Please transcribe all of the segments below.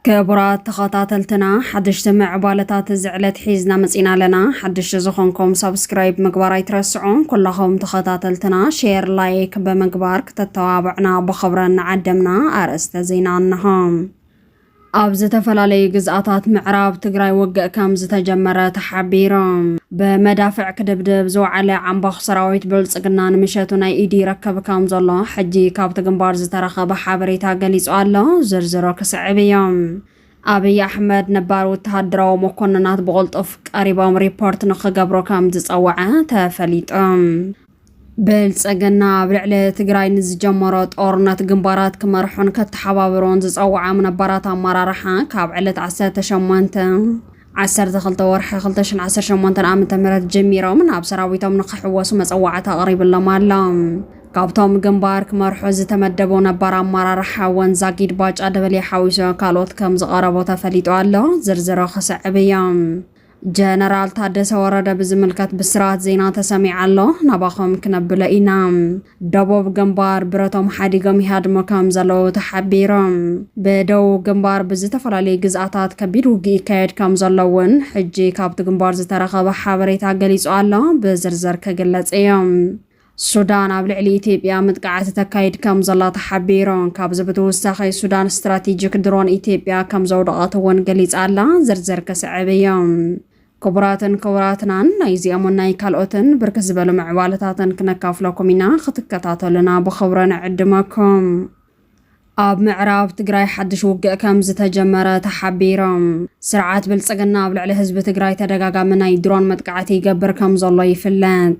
ክቡራት ተኸታተልትና ሓደሽቲ ምዕባለታት እዚ ዕለት ሒዝና መፂና ኣለና ሓደሽቲ ዝኾንኩም ሰብስክራይብ ምግባር ኣይትረስዑ ኩላኹም ተኸታተልትና ሼር ላይክ ብምግባር ክተተባብዕና ብኽብረን ንዓደምና ኣርእስተ ዜና እንሆም ኣብ ዝተፈላለዩ ግዝኣታት ምዕራብ ትግራይ ውግእ ከም ዝተጀመረ ተሓቢሮም። ብመዳፍዕ ክድብድብ ዝወዓለ ዓምባኽ ሰራዊት ብልፅግና ንምሸቱ ናይ ኢድ ይረክብ ከም ዘሎ ሕጂ ካብቲ ግንባር ዝተረኸበ ሓበሬታ ገሊፁ ኣሎ። ዝርዝሮ ክስዕብ እዮም። ኣብይ ኣሕመድ ነባር ወተሃደራዊ መኮንናት ብቕልጡፍ ቀሪቦም ሪፖርት ንክገብሩ ከም ዝፀወዐ ተፈሊጡ። ብልፅግና ኣብ ልዕሊ ትግራይ ንዝጀመሮ ጦርነት ግንባራት ክመርሑን ከተሓባብሮን ዝፀውዓም ነባራት ኣመራርሓ ካብ ዕለት 18 12 ወርሒ 2018 ዓ.ም ጀሚሮም ናብ ሰራዊቶም ንክሕወሱ መፀዋዕታ ኣቕሪብሎም ኣሎ። ካብቶም ግንባር ክመርሑ ዝተመደቡ ነባር ኣመራርሓ ወንዛጊድ ባጫ ደበሌ ሓዊሱ ካልኦት ከም ዝቐረቡ ተፈሊጡ ኣሎ። ዝርዝሮ ክስዕብ እዮም። ጀነራል ታደሰ ወረደ ብዝምልከት ብስራት ዜና ተሰሚዕ ኣሎ ናባኹም ክነብሎ ኢና ደቡብ ግንባር ብረቶም ሓዲጎም ይሃድሙ ከም ዘለዉ ተሓቢሮም ብደቡብ ግንባር ብዝተፈላለዩ ግዝኣታት ከቢድ ውግእ ይካየድ ከም ዘሎ እውን ሕጂ ካብቲ ግንባር ዝተረኸበ ሓበሬታ ገሊጹ ኣሎ ብዝርዝር ክግለጽ እዮም ሱዳን ኣብ ልዕሊ ኢትዮጵያ ምጥቃዓት ተካይድ ከምዘላ ተሓቢሩ። ካብዚ ብትውሳኺ ሱዳን ስትራቴጂክ ድሮን ኢትዮጵያ ከምዘውደቐት እውን ገሊፃ ኣላ። ዝርዝር ክስዕብ እዩ። ክቡራትን ክቡራትናን ናይዚኦምን ናይ ካልኦትን ብርክት ዝበሉ ምዕባለታትን ክነካፍለኩም ኢና። ክትከታተሉና ብኽብሪ ንዕድመኩም። ኣብ ምዕራብ ትግራይ ሓድሽ ውግእ ከም ዝተጀመረ ተሓቢሩ። ስርዓት ብልፅግና ኣብ ልዕሊ ህዝቢ ትግራይ ተደጋጋሚ ናይ ድሮን መጥቃዕቲ ይገብር ከም ዘሎ ይፍለጥ።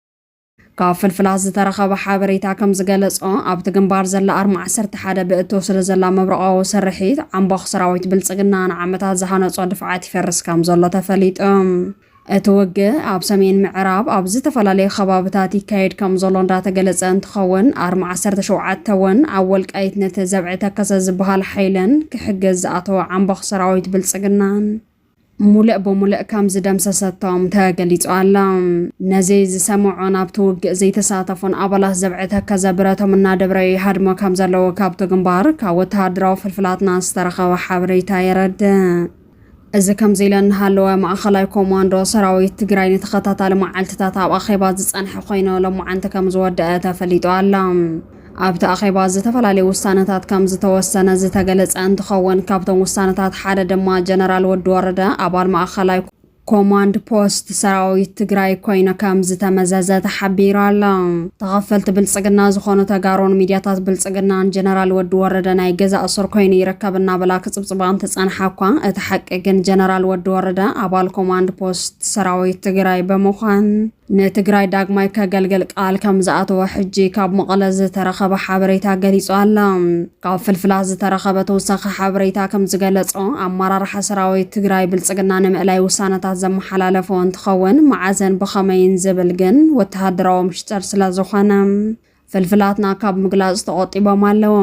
ካብ ፍልፍላት ዝተረኸበ ሓበሬታ ከም ዝገለጾ ኣብቲ ግንባር ዘላ ኣርማ ዓሰርተ ሓደ ብእቶ ስለ ዘላ መብረቓዊ ስርሒት ዓምቦኽ ሰራዊት ብልጽግና ንዓመታት ዝሃነጾ ድፍዓት ይፈርስ ከም ዘሎ ተፈሊጡ። እቲ ውግእ ኣብ ሰሜን ምዕራብ ኣብ ዝተፈላለዩ ከባብታት ይካየድ ከም ዘሎ እንዳተገለጸ እንትኸውን ኣርማ ዓሰርተ ሸውዓተ እውን ኣብ ወልቃይት ነቲ ዘብዒ ተከሰ ዝበሃል ሓይለን ክሕግዝ ዝኣተወ ዓምቦኽ ሰራዊት ብልጽግናን ሙለእ ብሙለእ ከም ዝደምሰሰቶም ተገሊጹ ኣሎ። ነዚ ዝሰምዑን ኣብቲ ውግእ ዘይተሳተፉን ኣባላት ዘብዐ ተከዘ ብረቶም እናደብረ ይሃድሙ ከም ዘለዉ ካብቲ ግንባር ካብ ወተሃደራዊ ፍልፍላትና ዝተረኸበ ሓበሬታ የረድእ። እዚ ከምዚ ኢለ እናሃለወ ማእኸላይ ኮማንዶ ሰራዊት ትግራይ ንተኸታታሊ መዓልትታት ኣብ ኣኼባ ዝፀንሐ ኮይኑ ሎማዓንቲ ከም ዝወደአ ተፈሊጡ ኣሎ። ኣብቲ ኣኼባ ዝተፈላለዩ ውሳነታት ከም ዝተወሰነ ዝተገለፀ እንትኸውን ካብቶም ውሳነታት ሓደ ድማ ጀነራል ወዲ ወረደ ኣባል ማእኸላይ ኮማንድ ፖስት ሰራዊት ትግራይ ኮይኑ ከም ዝተመዘዘ ተሓቢሩ ኣሎ። ተኸፈልቲ ብልፅግና ዝኾኑ ተጋሩን ሚዲያታት ብልፅግናን ጀነራል ወዲ ወረደ ናይ ገዛ እሱር ኮይኑ ይርከብ እናበላ ክፅብፅባ እንትፀንሓ እኳ እቲ ሓቂ ግን ጀነራል ወዲ ወረደ ኣባል ኮማንድ ፖስት ሰራዊት ትግራይ ብምዃን ንትግራይ ዳግማይ ከገልግል ቃል ከም ዝኣተወ ሕጂ ካብ መቐለ ዝተረኸበ ሓበሬታ ገሊጹ ኣሎ። ካብ ፍልፍላት ዝተረኸበ ተወሳኺ ሓበሬታ ከም ዝገለጾ፣ ኣመራርሓ ሰራዊት ትግራይ ብልጽግና ንምእላይ ውሳነታት ዘመሓላለፎ እንትኸውን፣ መዓዘን ብኸመይን ዝብል ግን ወተሃደራዊ ምሽጥር ስለዝኾነ፣ ፍልፍላትና ካብ ምግላጽ ተቖጢቦም ኣለዉ።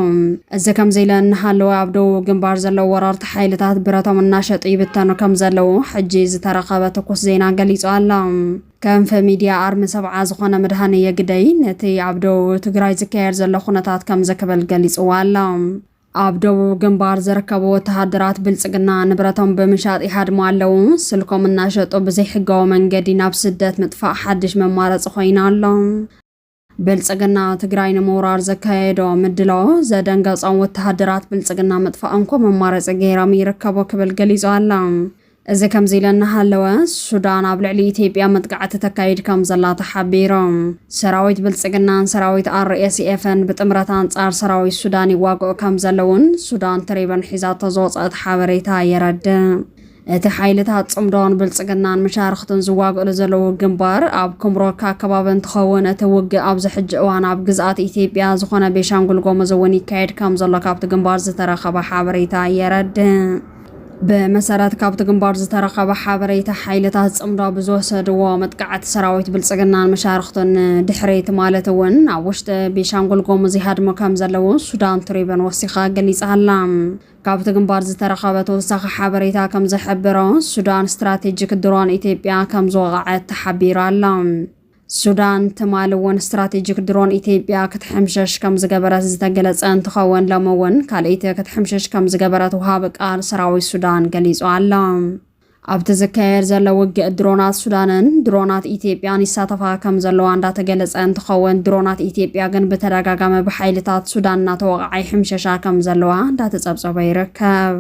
እዚ ከምዚ ኢለ እናሃለወ ኣብ ደቡብ ግንባር ዘለዉ ወረርቲ ሓይልታት ብረቶም እናሸጡ ይብተኑ ከም ዘለዉ ሕጂ ዝተረኸበ ትኩስ ዜና ገሊጹ ኣሎ። ከንፈ ሚድያ ኣርሚ ሰብዓ ዝኾነ ምድሃኔ የግደይ ነቲ ኣብ ደቡብ ትግራይ ዝካየድ ዘሎ ኩነታት ከምዚ ክብል ገሊጽዎ ኣሎ። ኣብ ደቡብ ግንባር ዝርከቡ ወተሃደራት ብልጽግና ንብረቶም ብምሻጥ ይሃድሙ ኣለዉ። ስልኮም እናሸጡ ብዘይሕጋዊ መንገዲ ናብ ስደት ምጥፋእ ሓድሽ መማረጺ ኮይኑ ኣሎ። ብልፅግና ትግራይ ንምውራር ዘካየዶ ምድላዎ ዘደንገፆም ወተሃደራት ብልፅግና ምጥፋእ እንኮ መማረፂ ገይሮም ይርከቡ ክብል ገሊፁ ኣሎ። እዚ ከምዚ ኢለ እናሃለወ ሱዳን ኣብ ልዕሊ ኢትዮጵያ መጥቃዕቲ ተካይድ ከም ዘላ ተሓቢሩ። ሰራዊት ብልፅግናን ሰራዊት RSFን ብጥምረት ኣንፃር ሰራዊት ሱዳን ይዋግኡ ከም ዘለዉን ሱዳን ትሪበን ሒዛቶ ዝወፀኣት ሓበሬታ የረድእ። እቲ ሓይልታት ጽምዶን ብልጽግናን መሻርኽቱን ዝዋግእሉ ዘለዉ ግንባር ኣብ ኩምሮካ ኣከባቢ እንትኸውን እቲ ውግእ ኣብዚ ሕጂ እዋን ኣብ ግዝኣት ኢትዮጵያ ዝኾነ ቤሻንጉል ጎሙዝ እውን ይካየድ ከም ዘሎ ካብቲ ግንባር ዝተረኸበ ሓበሬታ የረድእ። ብመሰረት ካብቲ ግንባር ዝተረኸበ ሓበሬታ ሓይልታት ፅምዶ ብዝወሰድዎ መጥቃዕቲ ሰራዊት ብልፅግናን መሻርክቱን ድሕሪት ማለት እውን ኣብ ውሽጢ ቤሻንጉል ጎሙዝ ይሃድሙ ከም ዘለዉ ሱዳን ትሪብን ወሲኻ ገሊፃ ኣላ። ካብቲ ግንባር ዝተረኸበ ተወሳኺ ሓበሬታ ከምዝሕብሮ፣ ሱዳን ስትራቴጂክ ድሮን ኢትዮጵያ ከምዝወቐዐት ተሓቢሩ ኣሎ። ሱዳን ትማሊ እውን ስትራቴጂክ ድሮን ኢትዮጵያ ክትሕምሸሽ ከምዝገበረት ዝተገለፀ እንትኸውን ሎሚ እውን ካልኢቲ ክትሕምሽሽ ከምዝገበረት ወሃቢ ቃል ሰራዊት ሱዳን ገሊፁ ኣሎ። ኣብቲ ዝካየድ ዘሎ ውግእ ድሮናት ሱዳንን ድሮናት ኢትዮጵያን ይሳተፋ ከም ዘለዋ እንዳተገለጸ እንትኸውን ድሮናት ኢትዮጵያ ግን ብተደጋጋሚ ብሓይልታት ሱዳን እናተወቕዓ ይሕምሸሻ ከም ዘለዋ እንዳተጸብጸበ ይርከብ።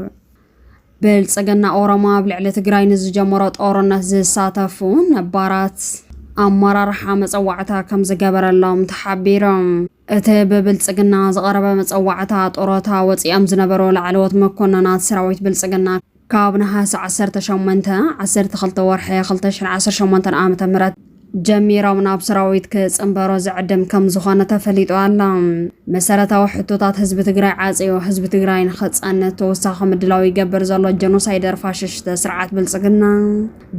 ብልጽግና ኦሮሞ ኣብ ልዕሊ ትግራይ ንዝጀመሮ ጦርነት ዝሳተፉ ነባራት ኣመራርሓ መጸዋዕታ ከም ዝገበረሎም ተሓቢሮም። እቲ ብብልጽግና ዝቐረበ መጸዋዕታ ጦሮታ ወጺኦም ዝነበሩ ላዕለዎት መኮነናት ሰራዊት ብልጽግና ካብ ነሓሰ ዓሰርተ ሸሞንተ፣ ዓሰርተ ክልተ ወርሒ ክልተ ሽሕን ዓሰርተ ሸሞንተን ዓመተ ምህረት ጀሚሮም ናብ ሰራዊት ክጽንበሮ ዝዕድም ከምዝኾነ ተፈሊጡ ኣሎ። መሰረታዊ ሕቶታት ህዝቢ ትግራይ ዓጽዮ ህዝቢ ትግራይ ንክጸንት ተወሳኺ ምድላው ይገብር ዘሎ ጀኖሳይደር ፋሽሽተ ስርዓት ብልጽግና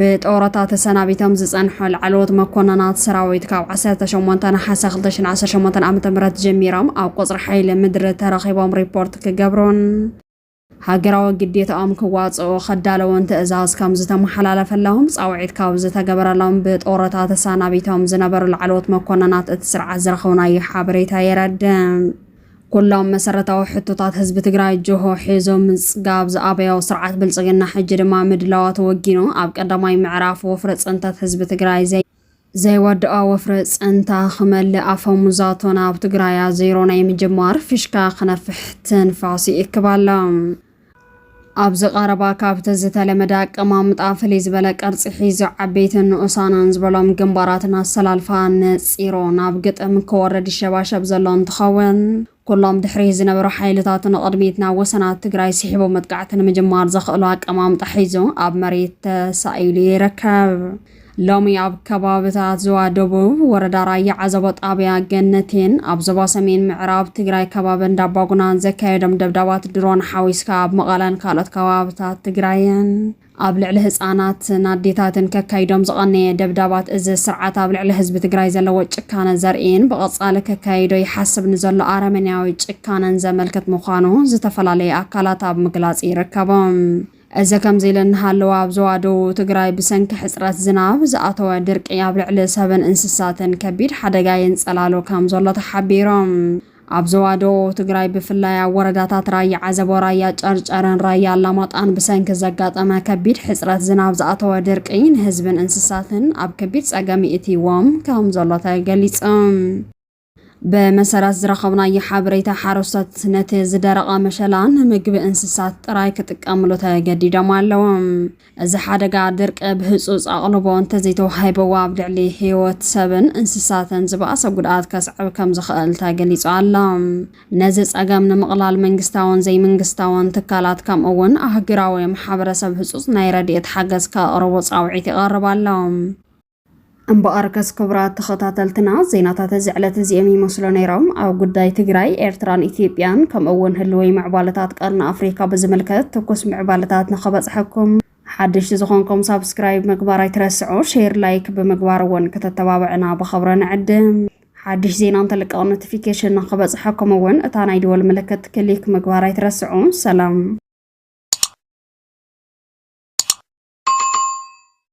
ብጦረታ ተሰናቢቶም ዝጸንሑ ላዕለዎት መኮነናት ሰራዊት ካብ ዓሰርተ ሸሞንተ ነሓሰ ክልተ ሽሕን ዓሰርተ ሸሞንተን ዓመተ ምህረት ጀሚሮም ኣብ ቁጽሪ ሓይሊ ምድሪ ተረኺቦም ሪፖርት ክገብሩን ሃገራዊ ግዴታኦም ክዋፅኡ ከዳለዉን ትእዛዝ ከምዝተመሓላለፈላዎም ፃውዒት ካብ ዝተገበረሎም ብጦረታ ተሳናቢቶም ዝነበሩ ላዕለዎት መኮነናት እቲ ስርዓት ዝረኸብናዮ ሓበሬታ የረድእ። ኩሎም መሰረታዊ ሕቶታት ህዝቢ ትግራይ ጅሆ ሒዙ ምፅጋብ ዝኣበዮ ስርዓት ብልፅግና ሕጂ ድማ ምድላዋቱ ወጊኑ ኣብ ቀዳማይ ምዕራፍ ወፍሪ ፅንተት ህዝቢ ትግራይ ዘይ ዘይወድኦ ወፍሪ ጸንታ ክመልእ ኣፈሙዛቶን ኣብ ትግራያ ዜሮ ናይ ምጅማር ፍሽካ ክነፍሕ ትንፋስ ይእክብ ኣሎ። ኣብዚ ቀረባ ካብቲ ዝተለመደ ኣቀማምጣ ፍልይ ዝበለ ቅርጺ ሒዙ ዓበይትን ንኡሳንን ዝበሎም ግንባራትን ኣሰላልፋ ነጺሮ ናብ ግጥም ክወርድ ይሸባሸብ ዘሎ እንትኸውን ኩሎም ድሕሪት ዝነበሩ ሓይልታት ንቕድሚት ናብ ወሰናት ትግራይ ስሒቡ መጥቃዕቲ ንምጅማር ዘኽእሎ ኣቀማምጣ ሒዙ ኣብ መሬት ተሳኢሉ ይርከብ። ሎሚ ኣብ ከባብታት ዝዋ ደቡብ ወረዳ ራያ ዓዘቦ ጣብያ ገነቴን ኣብ ዞባ ሰሜን ምዕራብ ትግራይ ከባቢ እንዳባጉናን ዘካየዶም ደብዳባት ድሮን ሓዊስካ ኣብ መቐለን ካልኦት ከባብታት ትግራይን ኣብ ልዕሊ ህፃናትን ኣዴታትን ከካይዶም ዝቐነየ ደብዳባት እዚ ስርዓት ኣብ ልዕሊ ህዝቢ ትግራይ ዘለዎ ጭካነ ዘርእይን ብቐፃሊ ከካይዶ ይሓስብ ንዘሎ ኣረመኔያዊ ጭካነን ዘመልክት ምዃኑ ዝተፈላለዩ ኣካላት ኣብ ምግላፅ ይርከቡ። እዚ ከምዚ ኢሉ እናሃለወ ኣብ ዞባ ደቡብ ትግራይ ብሰንኪ ሕፅረት ዝናብ ዝኣተወ ድርቂ ኣብ ልዕሊ ሰብን እንስሳትን ከቢድ ሓደጋ የንፀላሉ ከምዘሎ ተሓቢሩ። ኣብ ዞባ ደቡብ ትግራይ ብፍላይ ኣብ ወረዳታት ራያ ዓዘቦ፣ ራያ ጨርጨርን ራያ ኣላማጣን ብሰንኪ ዘጋጠመ ከቢድ ሕፅረት ዝናብ ዝኣተወ ድርቂ ንህዝብን እንስሳትን ኣብ ከቢድ ፀገም ይእትይዎም ከም ዘሎ ተገሊፁ። ብመሰረት ዝረኸብናዮ ሓበሬታ ሓረስቶት ነቲ ዝደረቐ መሸላ ንምግቢ እንስሳት ጥራይ ክጥቀምሉ ተገዲዶም ኣለዉ። እዚ ሓደጋ ድርቂ ብህጹጽ ኣቕልቦ እንተዘይተዋሂብዎ ኣብ ልዕሊ ህይወት ሰብን እንስሳትን ዝበኣሰ ጉድኣት ከስዕብ ከምዝኽእል ተገሊጹ ኣሎ። ነዚ ጸገም ንምቕላል መንግስታውን ዘይምንግስታውን ትካላት ከምኡ'ውን ኣህጉራዊ ማሕበረሰብ ህጹጽ ናይ ረድኤት ሓገዝ ከቕርቡ ጻውዒት ይቐርብ ኣሎ። እምበኣርከስ ክቡራት ተኸታተልትና ዜናታት እዚ ዕለት እዚኦም ይመስሉ ነይሮም። ኣብ ጉዳይ ትግራይ፣ ኤርትራን ኢትዮጵያን ከምኡ እውን ህልወይ ምዕባለታት ቀርኒ ኣፍሪካ ብዝምልከት ትኩስ ምዕባለታት ንኸበፅሐኩም ሓድሽቲ ዝኾንኩም ሳብስክራይብ ምግባር ኣይትረስዑ፣ ሼር ላይክ ብምግባር እውን ከተተባብዕና ብኸብረ ንዕድም። ሓድሽ ዜና እንተልቀቕ ኖቲፊኬሽን ንኸበፅሐኩም እውን እታ ናይ ደወል ምልክት ክሊክ ምግባር ኣይትረስዑ። ሰላም